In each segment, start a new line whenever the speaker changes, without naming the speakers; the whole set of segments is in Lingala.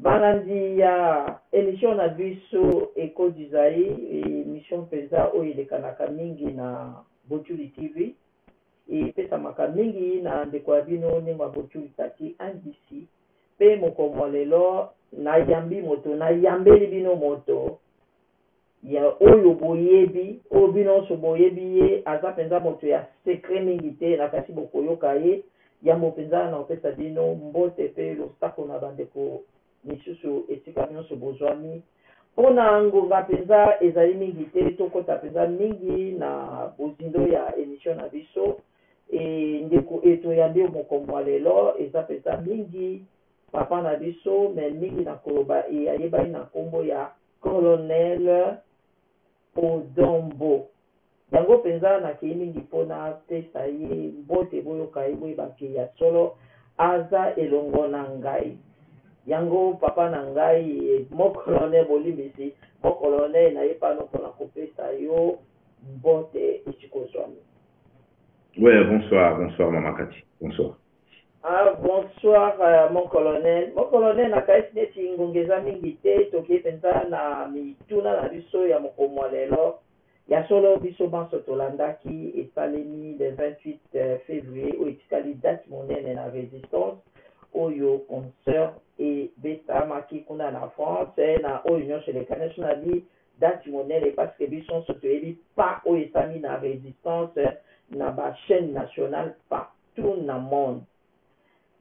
Balandi ya emission na biso Echo du Zaïre, emission penza oyo elekanaka mingi na Botshuli TV. Epesamaka mingi na ndeko ya bino Nengua Botshuli Tati NDC. Pe mokolo mua lelo nayambi moto, nayambeli bino moto Ya oyo boyebi, oyo bino onso boyebi ye, aza penza moto ya secret mingi te, na kasi bokoyoka ye yambo penza. Nakopesa bino mbote pe losako na bandeko misusu esika nionso bozwami. Po na ngonga penza ezali mingi te, tokota penza mingi na bozindo ya emission na biso. E ndeko e toyambi yo moko mua lelo, eza penza mingi papa na biso, mais mingi nakoloba e ayebani na kombo ya Colonel Odon Mbo. Yango mpenza nakei mingi mpo napesa ye mbote boyoka ye boyeba ke ya solo aza elongo na ngai. Yango papa na ngai mon colonel bolimbisi mon colonel naye pano mpo na kopesa yo mbote esika ozwami.
Ouais bonsoir bonsoir mama cathy bonsoir. Ah
bonsoir mon colonel, mon colonel nakanisi neti ngonga eza mingi te tokei penza na mituna na biso ya mokomo ya lelo, ya solo biso banso tolandaki esalemi le 28 fevrier oyo etikali date monene na resistance oyo concert ebetamaki kuna na France na oyo nionso elekani, soki nabi date monene parce que biso nionso toyebi pas oyo esalemi na resistance na ba chaines nationales pas. tout na monde.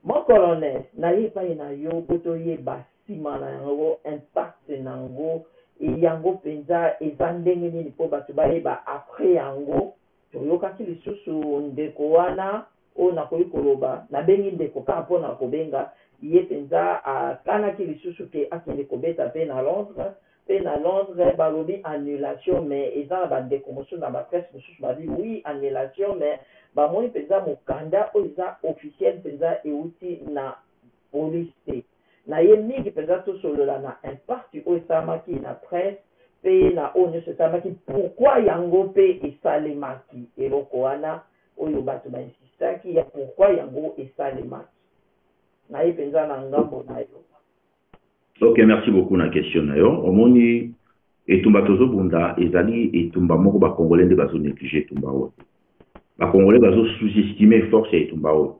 Mon colonel naye epai na yo po toyeba sima na yango impact na ngo et yango penza eza ndenge nini po batu bayeba après yango toyokaki lisusu ndeko wana oyo nakoki koloba nabengi ndeko kaka pona kobenga ye penza akanaki lisusu ke akende kobeta pe na Londres Pe na Londres balobi annulation mais eza na ba ndeko mosusu na ba presse mosusu babi oui annulation mais bamoni penza mokanda oyo eza officiel penza ewuti na police te. Naye mingi penza tosolola na impact oyo esalamaki na presse pe na oyo nionso esalemaki pourquoi yango pe esalemaki eloko wana oyo batu ba insistaki ya pourquoi yango esalemaki. Naye penza na ngambo nayo. Ok
merci beaucoup na question na yo omoni etumba tozobunda ezali etumba moko bakongole nde bazo néglige etumba oyo bakongole bazo sous-estime force ya etumba oyo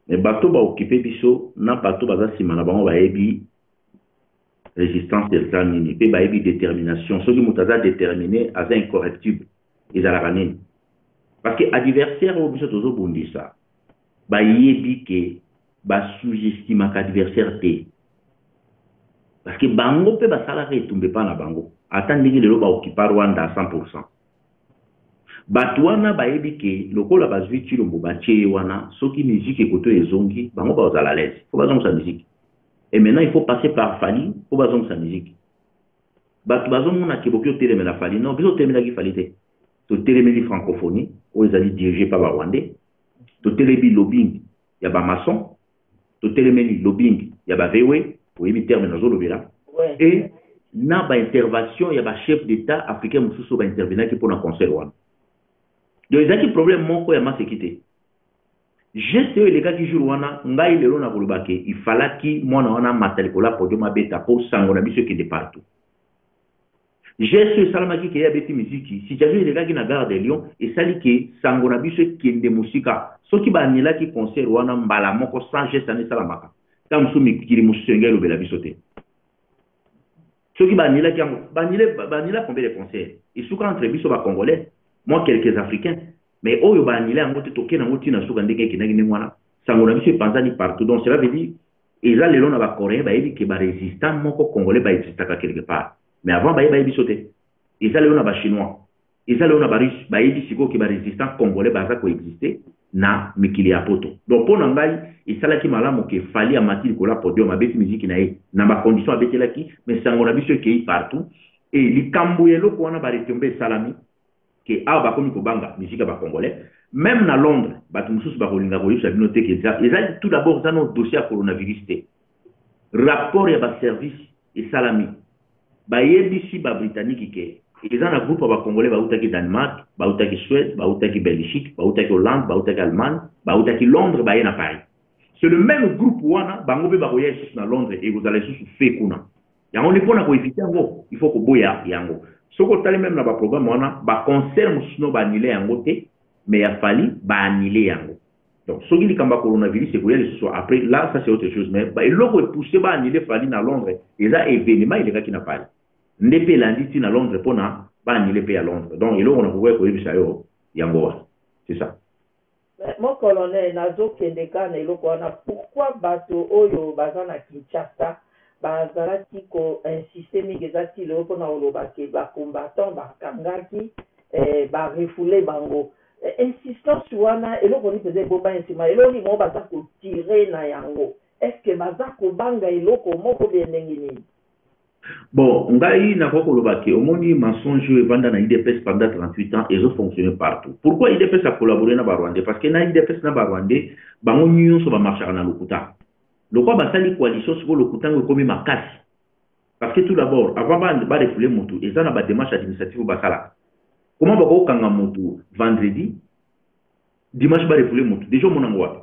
me bato baokipe biso na bato baza nsima na bango bayebi résistance eza nini mpe bayebi détermination soki moto aza déterminé aza incorrectible ezalaka nini parce que adversaire oyo biso tozobundisa Bayebi que ba sous-estimaka adversaire te. Parce que bango pe basalaka etumba epa na bango. Ata ndenge lelo ba occupa Rwanda à 100 pour 100. Batu wana bayebi que lokola bazui Tshilombo batie ye wana, soki musique ekoto ezongi, bango bakozala à l'aise. Il faut bazongisa musique. Et maintenant il faut passer par Fally po bazongisa musique. Batu bazomona que boke otelemela Fally. Non, biso totelemelaki Fally te. Totelemeli francophonie oyo ezali dirige epa ba Rwandais. totelemi lobbying ya ba maçon totelemeli lobbying ya ba VW oyebi terme nazolobela et na ba intervention ya ba chef d'etat africain mosusu oyo ba intervenaki mpo na concert wana donc ezalaki problème moko ya maseki te geste oyo elekaki jour wana ngai lelo nakoloba ke ifalaki mwana wana amata likolo ya podium abeta mpo sango na biso ekende partout Geste oyo esalamaki ke ye abeti miziki, situation elekaki na Gare de Lyon, esali ke sango na biso ekende mosika. Soki ba annulaki concert wana mbala moko sans geste wana esalamaka, tango mosusu mikili mosusu elingi elobela biso te. Soki ba annulaki yango, ba annule, ba annula combien de concerts? Esuka entre biso ba congolais, mwa quelques africains. Mais oyo ba annula yango te, toke na yango ti na suka, ndenge ekendaki ndenge wana, sango na biso epanzani partout. Donc cela veut dire, Eza lelo na ba coreens bayebi ke ba resistant moko congolais ba existaka quelque part mais avant baye bayebi biso te eza lelo na ba chinois eza lelo na ba russe bayebi sikoyo ke ba resistant congolais baza ko existe na mikili ya poto donc mpo na ngai esalaki malamu ke fali amati likolo ya podium abeti miziki na ye na ba condition abetelaki mais sango na biso ekei partout e likambo ya eloko wana ba retombe esalami que awa bakomi kobanga musique ya ba congolais meme na Londres bato mosusu bakolinga koyebisa bino te que eza eza tout d'abord eza no dossier ya coronavirus te rapport ya ba service esalami bayebisi ba britannique ke eza na groupe ya ba congolais bautaki Danemark bautaki Suède bautaki Belgique bautaki Hollande bautaki Allemagne bautaki Londres baye na Paris c'est le même groupe wana bango mpe bakoya lisusu na Londres ekozala lisusu fe kuna Yango nde pona ko eviter yango il faut koboya yango. Soki otali meme na ba programme wana ba concert mosusu no ba annule yango te mais ya Fally ba annule yango. Donc soki likambo ya coronavirus ekoya lisusu après là ça c'est autre chose mais ba eloko e pousser ba annule Fally na Londres eza evenement elekaki na Paris. Nde pe elandi ti na Londres pona ba annule pe ya Londres. Donc eloko na kokoya koyebisa yo yango wana. C'est ça. Mais mon
colonel nazo kende kaka na eloko wana pourquoi bato oyo baza na Kinshasa bazalaki ko insister mingi eza ti lelo pona koloba que ba combattants bakangaki eh ba refouler bango insistance wana eloko nini penza ebombani sima eloko nini bango baza ko tirer na yango est ce que baza kobanga eloko moko ou bien ndenge nini? Bon,
ngai na koko lobaki, omoni mensonge oyo evanda na IDPS pendant 38 ans ezo fonctionner partout. Pourquoi IDPS a collaborer na ba Rwandais? Parce que na IDPS na ba Rwandais bango nyonso ba marchaka na lokuta. Lokwa basali coalition siko lokuta ngo ekomi makasi. Parce que tout d'abord, avant ba ba refouler mutu, eza na ba démarches administratives basalaka. Comment bako kanga mutu vendredi, dimanche ba refouler mutu. Déjà omona ngo wapi?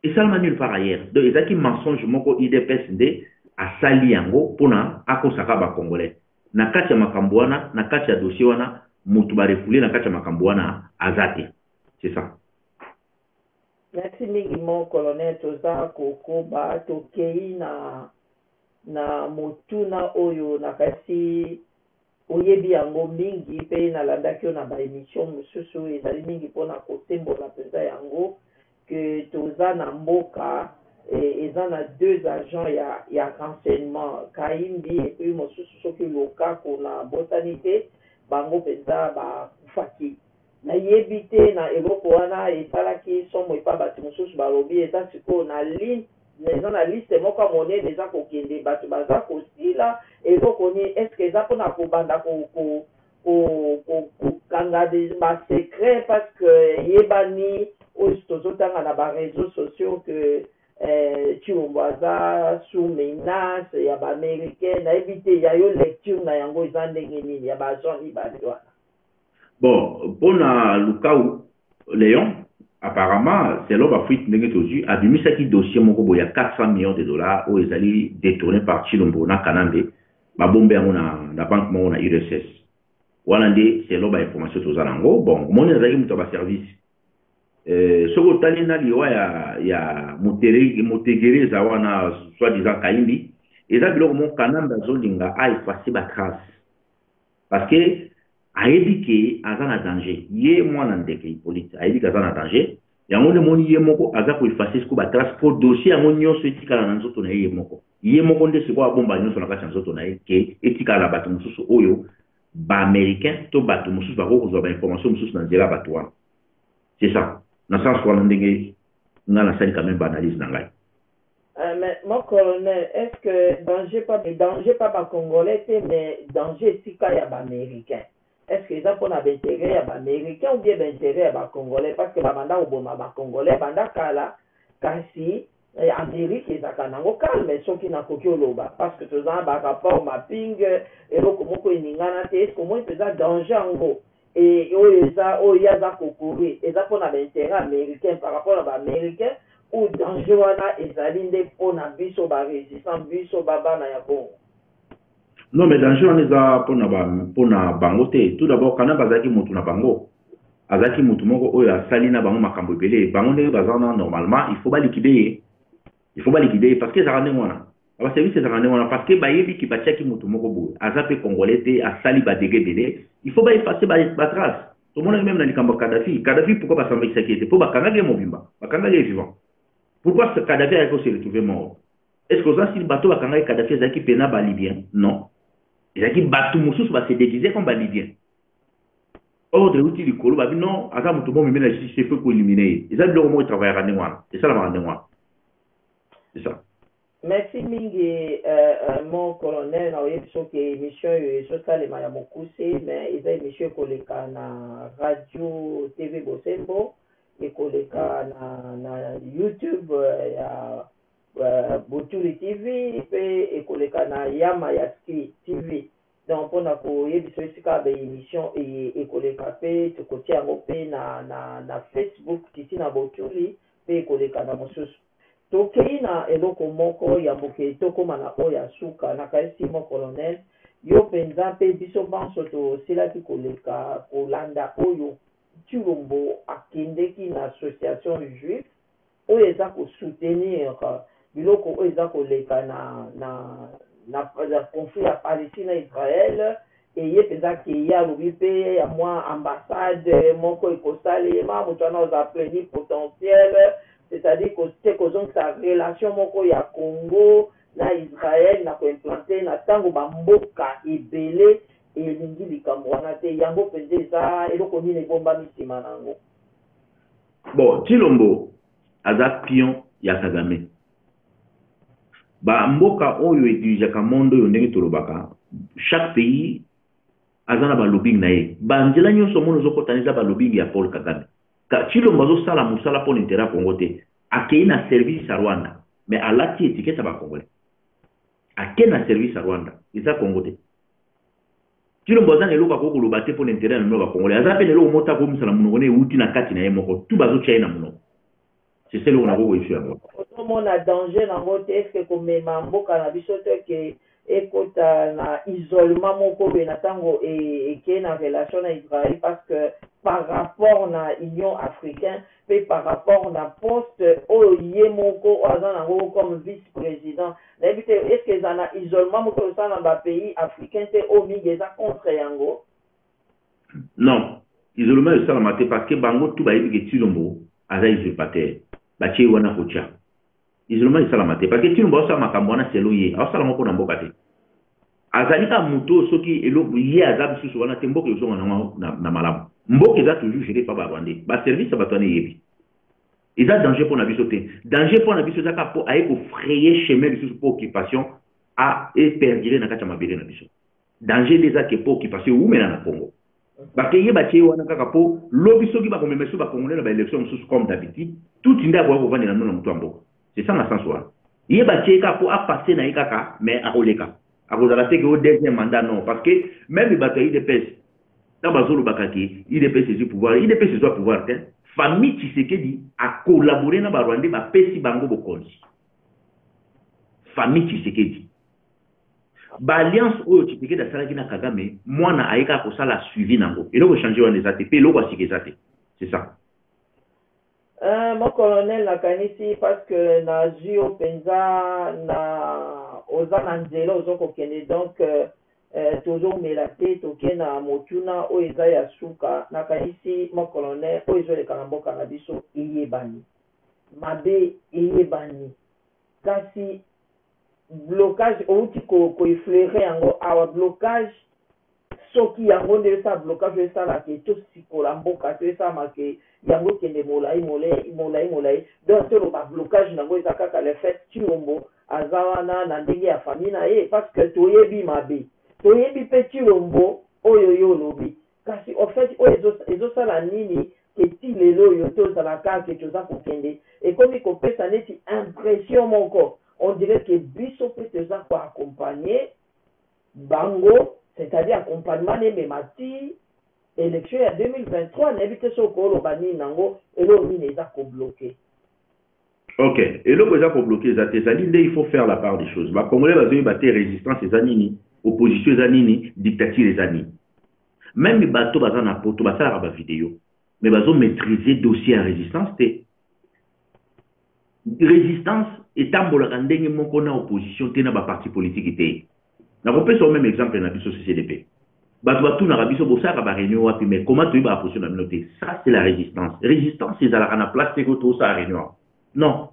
Esalama nulle part ailleurs. Donc ezaki mensonge moko udps nde asali yango pona akosa kaka ba congolais. Na kati ya makambo wana, na kati ya dossier wana mutu ba refouler na kati ya makambo wana aza te. C'est ça.
Merci mingi mon colonel toza kokoba tokei na na motuna oyo nakati Oyebi yango mingi pe na landaki yo na ba emission mususu ezali mingi pona ko sembola penza yango que toza na mboka eza na deux agents ya ya renseignement Kahimbi et puis mosusu soki Lukaku na bosani te bango penza ba kufaki Na yebi te na eloko wana esalaki somo epa batu mususu ba lobi eza sikoyo na lin eza na liste moko ya monene eza ko kende batu baza ko sila eloko nini est ce que eza pona ko banda ko ko ko ko ko kanga ba secret par ce que eyebani oyo tozo tanga na ba reseaux sociaux que eh, Tshilombo aza sous menace ya ba americain na yebi te ya yo lecture na yango eza ndenge nini ya ba agent mibale wana. bon
mpo na lukau leon apparemment selon bafuite ndenge tozwi abimisaki dossier moko boye ya 400 millions de dollars oyo ezali détourné par chilombo na kanambe babombe yango na, na banque moko na urss wana nde selon bainformation toza na yango bon omoni azalaki moto ya baservice eh, soki otali na liwa ya, ya motegere eza wana soit disant kaimbi eza biloko moko kanambe azolinga aefase batrace Parce que ayebi ke aza na danger ye mwana ndeke Hippolyte ayebi ke aza na danger yango nde moni ye moko aza ko effacer siko ba trace mpo dossier yango nyonso etikala na nzoto na ye ye moko ye moko nde sikoyo abomba nyonso na kati ya nzoto na ye ke etikala na bato mosusu oyo baaméricain to bato mosusu bakoki kozwa bainformation mosusu na nzela ya bato wana c'est ça na sens wana ndenge ngai nasali quand même baanalyse na ngai Eh mais
mon colonel est ce que danger pa danger pa ba congolais te mais danger esika ya ba americain est ce que eza pona ba intere ya ba americain ou bien ba intere ya ba congolais parce que ba banda koboma ba congolais banda kala kasi amerique ezaka nango calme soki nakoki oloba parce que toza na ba rapport mapinge eloko moko eningana te est ce que omoni mpenza danger yango Et oyo eza oyo ye aza ko courir eza pona ba interet americain par rapport na ba americain ou danger wana ezali nde pona biso ba resistant biso ba bana ya bongo?
Non mais danger wana eza pona ba pona bango te tout d'abord kanambe azalaki mutu na bango azalaki mutu moko oyo asali na bango makambo ebele bango ndenge baza wana normalement il faut ba liquider ye il faut ba liquider ye parce que ezalaka ndenge wana na ba service ezalaka ndenge wana parce que bayebi ke batiaki moto moko boye aza mpe congolais te asali ba dege ebele il faut ba effacer ba, ba trace tomonaki meme na likambo ya kadafi kadafi pourquoi basambakisaki ye te mpo bakangaki ye mobimba bakangaki ye vivant pourquoi kadafi ayaki ko se retrouver mort est ce que oza sili bato bakangaki kadafi ezalaki mpena balibien non ezalaki bato mosusu ba se déguise comme balibien ordre euti likolo babi non aza moto bomeme na justice il faut koelimine ye eza biloko moko etravaillaka ndenge wana esalamaka ndenge wana esa merci mingi
euh, euh, mon colonel na oyebi biso ke émission oyo ezosalema ya mokuse mais eza émission ekoleka na radio tv bosembo ekoleka na, na youtube euh, ya uh, botuli tv mpe ekoleka na yama ya ski tv Donc pona ko yebisa yo esika ba emission eye eko leka pe toko tia yango pe na na na Facebook Titina Botuli pe eko leka na mosusu. To keyi na eloko moko ya muke to koma na oyo ya suka na kanisi mon colonel yo penza pe biso banso to silaki ko leka ko landa oyo Tshilombo a kendeki na association juif Oyo eza ko soutenir biloko oyo eza koleka na na na conflit ya Palestine na Israël et ye penza ke ye alobi pe ya mua ambassade moko eko salema mutu wana aza pleni potentiel c'est à dire ko se ko zongisa relation moko ya Congo na Israël na ko implante na tango ba mboka ebele elingi likambo wana te yango penza eza eloko nini ebombami sima na yango? Bon
tshilombo aza pion ya kagame ba mboka oyo e dirigeaka monde oyo ndenge tolobaka chaque pays aza na ba lobbying na ye ba nzela nionso omoni ozokota eza ba lobbying ya Paul kagame tshilombo azosala mosala mpo na intere ya congo te akei na service ya rwanda mais alati etiquette ya ba congolais ake na service ya rwanda eza congo te Tshilombo aza na eloko akoki koloba te pona interet na bino ba congolais aza pe na eloko moko te akoki kobimisa na munoko naye ewuti na kati naye moko tout bazo tia ye na munoko c'est seul eloko nakoki koyebisa yango. Ozo mona danger
nango te est ce que komema mboka na biso te que ekota na isolement moko boye na tango eke na relation na Israël parce que par rapport na union africain pe par rapport na poste oyo ye moko oyo aza na ngo comme vice president nayebi te est ce que ezala na isolement moto oyo osala na ba pays africain te oyo mingi eza contre ya ngo?
Non isolement ezo salama te parce que bango tout bayebi que Tshilombo aza usurpateur batie ye wana kotia Isolement esalama te parce que Tshilombo asala makambo wana selon ye, asala ngo pona mboka te. Azali kaka moto oyo soki eloko ye aza lisusu wana te mboka ezonga na ngo na, na malamu. Mboka eza toujours géré par ba Rwandais. Ba service ya bato wana eyebi. Eza danger pona biso te. Danger pona biso eza kaka po aye ko frayer chemin lisusu po occupation a e perdurer na kati ya mabele na biso. Danger nde eza ke po okipasio ewumela na Congo. Bakeye batie ye wana kaka po lobi soki bakomema esu ba Congolais na ba elections mosusu comme d'habitude, Tutsi nde akoya kovandela nuna moto ya mboka. C'est ça na sens wana. Ye batie ye kaka po a passer na ye kaka mais akoleka. Akozala te ke o deuxième mandat non parce que meme bato ya udps tango bazolobaka ke udps ezui pouvoir, udps ezua pouvoir te. Famille Tshisekedi a collaborer na ba Rwandais bapesi bango bokonzi. Famille Tshisekedi. ba alliance oyo Tshisekedi asalaki na Kagame mwana aye kaka kosala suivi na yango eloko echange wana eza te mpe eloko ya sika eza te c'est ça Uh,
mon colonel nakanisi parce que nazwi yo mpenza na oza na nzela ozo kokende donc uh, uh, tozomela te toke na motuna oyo eza ya suka nakanisi mon colonel oyo ezoleka na mboka na biso eyebani mabe eyebani kasi blocage owuti ko ko effleurer yango awa blocage soki yango nde esala blocage oyo esala ke tosikola mboka to esalama ke yango ekende molayi molayi molayi molayi donc toloba blocage na yango eza kaka le faite Tshilombo aza wana na ndenge ya famille na ye parce que toyebi mabe toyebi pe Tshilombo oyo yo olobi Kasi au fait oyo ezo ezo sala nini que ti lelo oyo to zala ka que to za ko kende? Ekomi ko pesa neti impression moko on dirait que biso pe to za ko accompagner bango c'est à dire accompagnement na emema ti election ya 2023 na yebi te soki oko loba nini na ngo eloko nini eza ko bloquer
Ok, eloko eza ko bloquer eza te, ezali nde il faut faire la part des choses. Ba Congolais bazoyeba te resistance eza nini, opposition eza nini, dictature eza nini. Meme bato baza na poto basalaka ba video, mais bazo maîtriser dossier ya resistance te. Resistance etambolaka ndenge moko na opposition te na ba parti politique te. Nakopesa yo meme exemple na biso CCDP. Batu batunaka biso bosalaka ba reunion wapi mais comment toyebaka position na bino te. Ça c'est la resistance. Resistance ezalaka na place te ko tosala reunion awa. Non.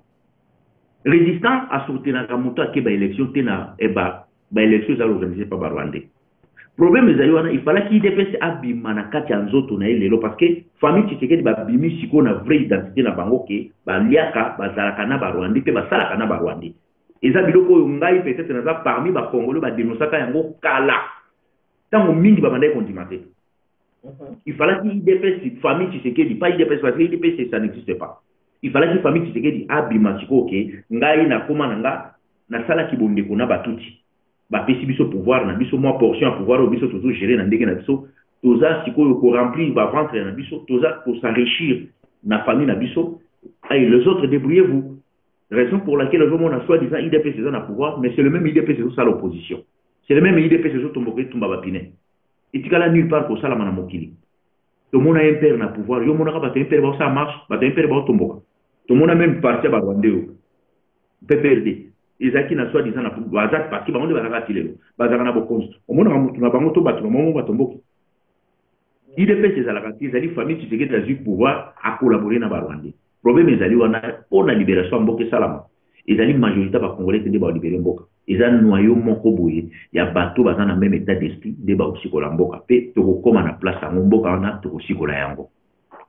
Resistance asourtenaka moto ake ba election te na eba ba election ezali organise pa ba Rwandais. Problème ezali wana il fallait qu'IDPS abima na kati ya nzoto na ye lelo parce que famille Tshisekedi babimi sikoyo na vraie identité na bango ke baliaka bazalaka na ba Rwandais mpe basalaka na ba Rwandais. Eza biloko oyo ngai peut etre naza parmi ba congolais ba denonsaka yango kala tango mingi ba bandaki kondima te. Mhm. Il fallait IDPS famille Tshisekedi pas IDPS parce que IDPS ça n'existe pas. Il fallait que famille Tshisekedi abima sikoyo ke ngai nakoma na nga nasalaki bondeko na batuti bapesi biso pouvoir na biso mwa portion ya pouvoir oyo biso tozo gérer na ndenge na biso toza sikoyo koremplir baventre na biso toza kosenrichir na famille na biso ay les autres débrouillez vous raison pour laquelle ozomona soit disant idps eza na pouvoir mais c'est le même idps ezosala opposition c'est le même idps ezotomboka etumba bapine etikala nulle part kosalama na mokili tomona impere na pouvoir yo omonaka bato impere baosala marche bato impere baotomboka tomona meme parti ya barwande oyo pprd ezalaki na soit disant baza parti bango nde bazalaka ti lelo bazalaka na bokonzi omonaka motu na bango to bato na bango batomboki Udps ezalaka te ezali famille tshisekedi azui pouvoir a collaborer na ba rwandais problème ezali wana pona liberation ya mboka esalama ezali majorité ba congolais te nde ba libere mboka eza noyau moko boye ya bato baza na meme etat d'esprit nde ba kosikola mboka pe tokokoma na place yango mboka wana tokosikola yango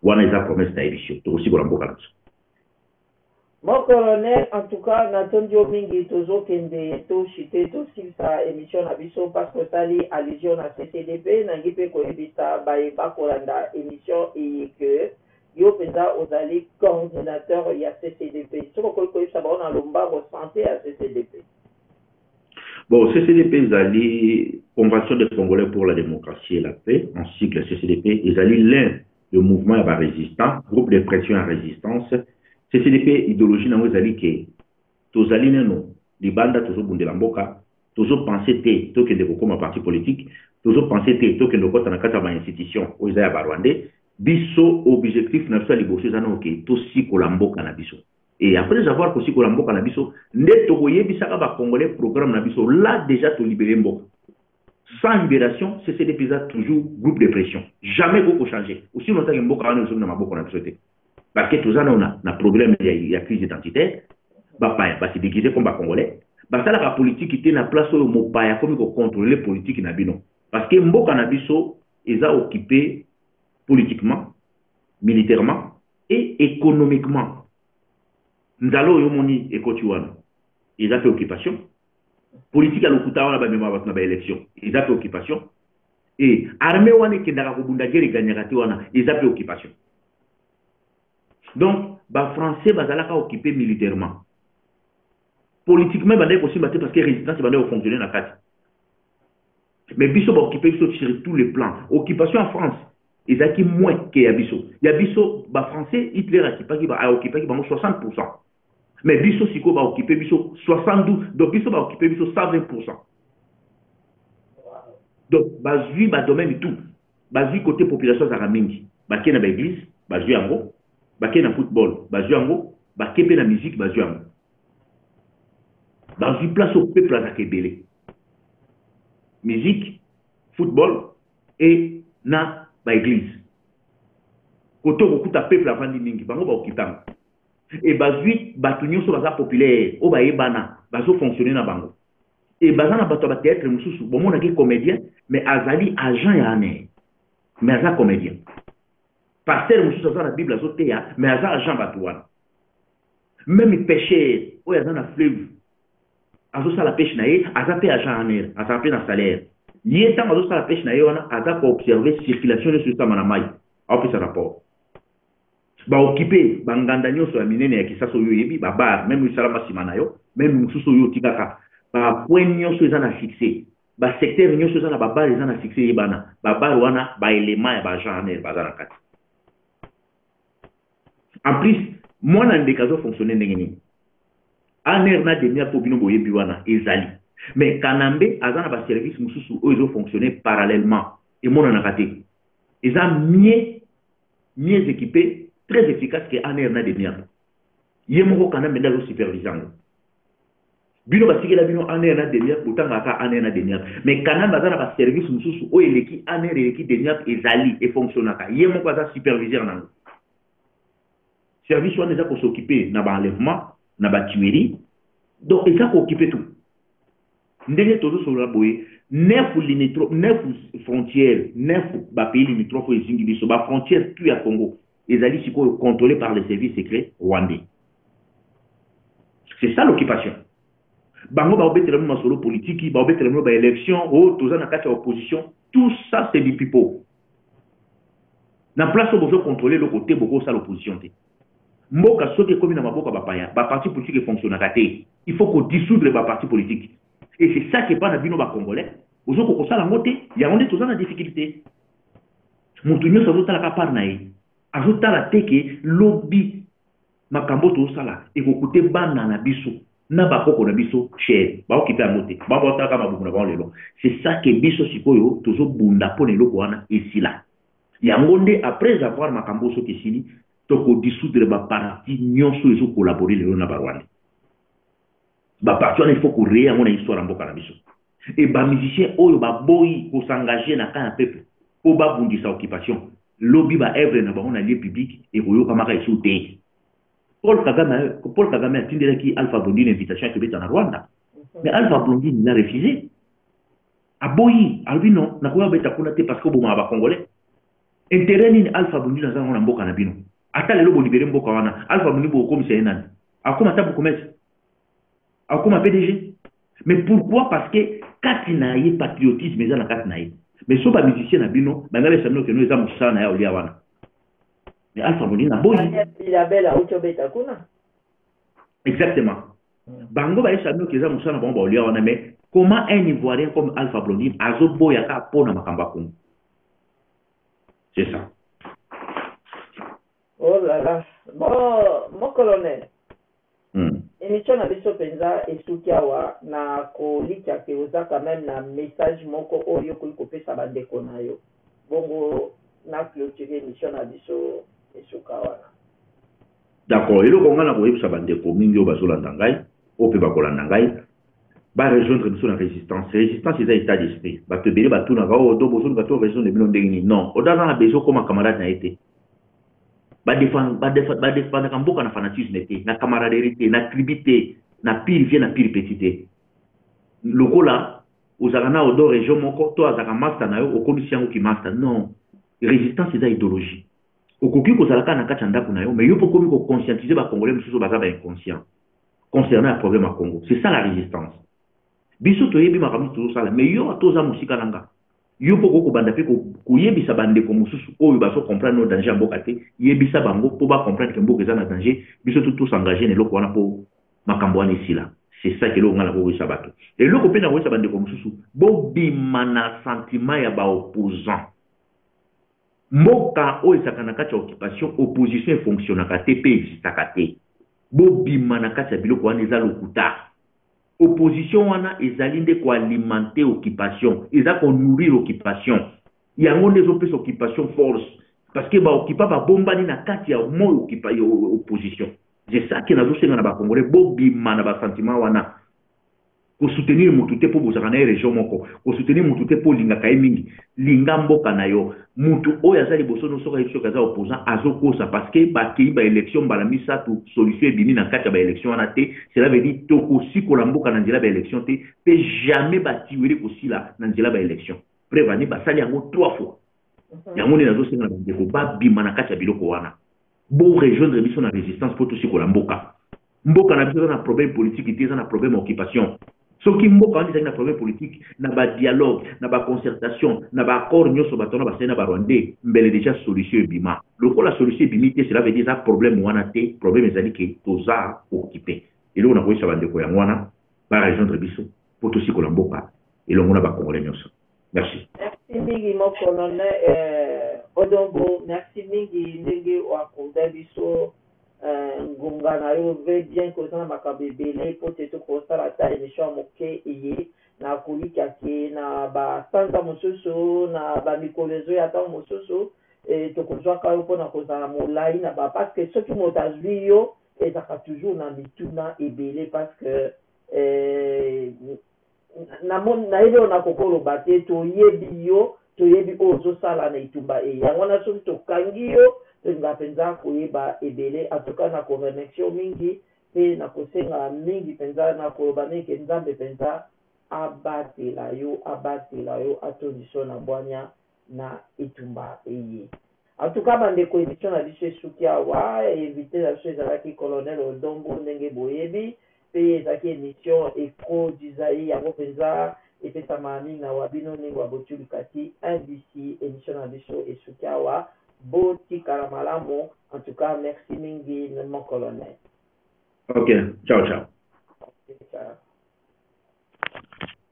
wana eza promesse na ye biso tokosikola mboka na biso
Mon colonel en tout cas na tondi yo mingi tozo kende to chute to silisa emission na biso parce que otali allusion na CCDP nangi pe ko yebisa baye ba kolanda emission eye que yo penza ozali coordinateur ya CCDP soki okoki ko yebisa bango na lombango sante ya CCDP.
Bon, CCDP ezali Convention des Congolais pour la démocratie et la paix en sigle CCDP ezali l'un le mouvement ya ba resistant groupe de pression ya resistance ccdp ideologie na yango ezali ke tozali nano libanda tozobundela mboka tozo pense te tokende kokoma parti politique tozo pense te tokende kokota na kati ya ba institution oyo eza ya ba rwandais biso objectif na biso ya liboso eza nao ke tosikola mboka na biso et après avoir kosikola mboka na biso nde tokoyebisaka ba congolais programme na biso la dejà tolibere mboka Sans liberation CCDP eza toujours groupe de pression jamais ekoki ko changer aussi longtemps que mboka wana ezongi na maboko na biso te parce que toza nao na problème ya, ya crise identitaire bapaya basi déguise comme ba congolais basalaka politiki te na place oyo mopaya akomi kocontrole politiki na bino parce que mboka na biso eza occupe politiquement militairement et économiquement nzala oyo omoni ekoti wana eza mpe occupation politique ya lokuta wana bamema bato na baélection eza mpe occupation e armée wana ekendaka kobunda guerre eganyaka te wana eza mpe occupation donc bafrançais bazalaka occupe militairement politiquement ebandaki kosimba te parce que résistance ebandaki kofonctionne na kati mais biso baoccupe biso sur tous les plans occupation ya france ezalaki moins ke ya biso ya biso bafrançais hitler akipaki aoccupaki bango 60 pourcent mais biso sikoyo ba occupe biso 72 donc biso ba occupe biso 120 donc bazwi badomaine tout bazwi kote population azalaka mingi bake na baeglise bazwi yango bake na football bazwi yango bake mpe na musique bazwi yango bazwi place oyo peuple azalaka ebele musique football e na baeglise kote okokuta peuple avandi mingi bango baokipe yango et bazui bato nyonso baza populaire oyo bayebana bazo fonctionner na bango et baza na bato ya batheatre mosusu bomonaki comédien mais azali agent ya ane mais aza comédien pasteur mosusu aza na bible azoteya mais aza agent bato wana meme pêcheur oyo aza na fleuve azosala peshe na ye aza mpe agent ane azala mpe na salaire ye ntango azosala peshe na ye wana aza koobserve circulation nyonso esama na mai aopesa rapport ba occupe ba nganda nyoso ya minene ya kisasa oyo oyebi ba bar meme oyo esalama nsima na yo meme mosusu oyo otikaka ba point nyoso eza na succès ba secteur nyoso eza na ba bar eza na succès yebana ba bar wana ba element ya ba genre baza na kati en plus mwana ndeke azo fonctionner ndenge nini aner na demi mpo bino boyebi wana ezali mais kanambe aza na baservice mosusu oyo ezofonctionne parallèlement emonanaka te eza mie mieux equipe très efficace que Anne na Demiap ye moko Kanambe nde azo supervise yango bino batikela bino Anne na Demiap botangaka kaka Anne na Demiap mais Kanambe aza na ba service mosusu oyo eleki Anne eleki Demiap ezali efonctionnaka ye moko aza superviseur na yango service wana eza kosokipe na ba enlèvement na ba tuerie donc eza kookipe tout ndenge tozo solola boye neuf limitro neuf frontières neuf ba pays limitrophes ezingi biso ba frontières tout ya Congo ezali sikoyo contrôlé par les services secrets rwandais c'est ça l'occupation bango baobetela bino masolo politiki baobetela bino baélection o oh, toza na kati ya opposition tout ça c'est du pipo na place oyo bozo contrôle eloko te bokosala opposition te Mboka soki ekomi na maboko ya bapaya, ba partis politiques e fonctionnaka te. Il faut ko dissoudre ba partis politiques. Et c'est ça que epai na bino ba congolais bozo ko kosala yango te, yango nde toza na difficulte. Mutu nionso azo tala kaka part na ye. Azo tala te que lobi makambo oyo tozo sala eko coute bana na biso na ba koko na biso cher. Bao kipe yango te. Bango bao tala kaka mabumu na bango lelo. C'est ça que biso sikoyo tozo bunda pona eloko wana esila. Yango nde après avoir makambo oyo soki esili toko dissoudre ba parti nionso ezo collaborer lelo na ba rwandais. Ba parti wana il faut ko reye yango na histoire ya mboka na biso. Et ba musiciens oyo ba boyi ko s'engager na camp ya peuple po ba bundisa occupation lobi ba oeuvres na bango na lieu public eko yokama ka lisusu te. Paul Kagame, Paul Kagame atindelaki Alpha Blondy na invitation ya kobeta na Rwanda. Mais Alpha Blondy il a refuse. aboyi alobi non nakoya kobeta kuna te parce que obomaka ba congolais intérêt nini alpha bundi naza nango na mboka na bino ata lelo bolibere mboka wana alpha bundi bokokomisa ye nani akoma ata bokomesa akoma pdg mais pourquoi parce que kati na ye patriotisme eza na kati na ye mais so bamusicien na bino balinga besa bino keno eza mosala na ye olia wana mais alpha bundi naboyi bilabela auti obeta kuna Exactement. Bango ba yesa mio keza musana bango ba olia wana mais comment un ivoirien comme Alpha Blondine azo boya ka pona makamba kungu. C'est ça.
Oh là là. Bon, mon colonel. Hmm. Emission na biso penza esuki awa na kolikya ke oza quand même na message moko oyo okoki kopesa bandeko na yo. Bongo na clôture emission na biso esuka wana.
D'accord, eloko nga nakoyebisa ba ndeko mingi oyo bazolanda ngai, oyo pe bakolanda ngai, ba rejoindre biso na resistance. Resistance eza etat d'esprit. Batu ebele batunaka oyo oh, do bozoluka to rejoindre bino ndenge nini? Non, oda aza na besoin okoma camarade na ye te. Badefandaka mboka na fanatisme te, na camaraderie te, na tribu te, na pire vie, na pire petit te. Lokola ozalaka na odo region moko to azalaka masta na yo okomisi yango ki masta non resistance eza idéologie Okoki kozala kaka na kati ya ndaku na yo mais yo pe okomi ko conscientiser ba congolais mususu baza ba inconscients concernant ya problème ya Congo c'est ça la resistance biso toyebi makambo tozo sala mais yo ata oza musika na nga yo pe okoki kobanda pe koyebisa ba ndeko mususu oyo bazo comprendre no danger ya mboka te yebisa bango po ba comprendre que mboka eza na danger biso tout tous engager na eloko wana po makambo wana esila c'est ça que eloko nga na koyebisa bato eloko pe na koyebisa ba ndeko mususu bobima na sentiment ya ba opposants Mboka oyo ezalaka na kati ya occupation opposition e fonctionnaka te pe existaka te. Bo bima na kati ya biloko wana eza lokuta. Opposition wana ezali nde ko alimenter occupation, eza ko nourrir occupation. Yango nde ezo pesa occupation force parce que ba occupants ba bombani na kati ya moi occupa ya opposition. C'est ça que nazo senga na ba congolais bo bima na ba sentiments wana. Ko soutenir mutu te po bozalaka naye region moko, ko soutenir mutu te po olingaka ye mingi. Linga mboka nayo. Mutu oyo aza liboso no soki ayebi soki aza opposant azo kosa parce que ba keyi ba elections mbala misatu solution ebimi na kati ya ba elections wana te, cela veut dire toko sikola mboka na nzela ba elections te pe jamais ba tueries eko sila na nzela ba elections. Preuve en est basali yango trois fois. Yango nde nazo senga na ba ndeko ba bima na kati ya biloko wana. Bo rejoindre biso na resistance po tosikola mboka. Mboka na biso eza na problème politique te, eza na problème ya occupation. Soki mboka wana ezali na problème politique, na ba dialogue, na ba concertation, na ba accord nyoso bato wana basali na ba rwandais, mbele dejà solution ebima. Lokola solution ebimi te, cela veut dire eza problème wana te, problème ezali que toza occupe. Eloko nakoyebisa ba ndeko yango wana ba rejoindre biso po tosikola mboka elongo na ba congolais nyoso. Merci. Merci mingi mon
colonel euh, Odongo, merci mingi ndenge oakoda biso euh, ngonga na yo ve bien koza na makambo ebele mpo te tokosala ata émission ya moke eye na kolikya ke na basanza mosusu na bamikolo ezoya ntango mosusu e, tokozwaka yo mpona kozala molai na ba parce que soki moto azwi yo ezalaka toujours na mituna ebele parce que e, namoni nayebi oyo nakoki oloba te toyebi yo toyebi oyo ozosala na etumba eye yango wana soki tokangi yo tolinga mpenza koyeba ebele atuka na koremeksio mingi mpe na kosenga mingi mpenza na koloba neke nzambe mpenza abatela yo abatela yo atondiso na bwania na etumba eye. En tout cas ba ndeko emission na biso esuki awa, invite na biso ezalaki Colonel Odon Mbo ndenge boyebi, pe ezalaki emission Echo du Zaire yango penza epesama na mingna wa bino Ningo ya Botyou Likati un DC. Emission na biso esuki awa, bo tikala malamu, en tout cas merci mingi mon
Colonel.
Ok,
ciao
ciao.
Ok,
ciao.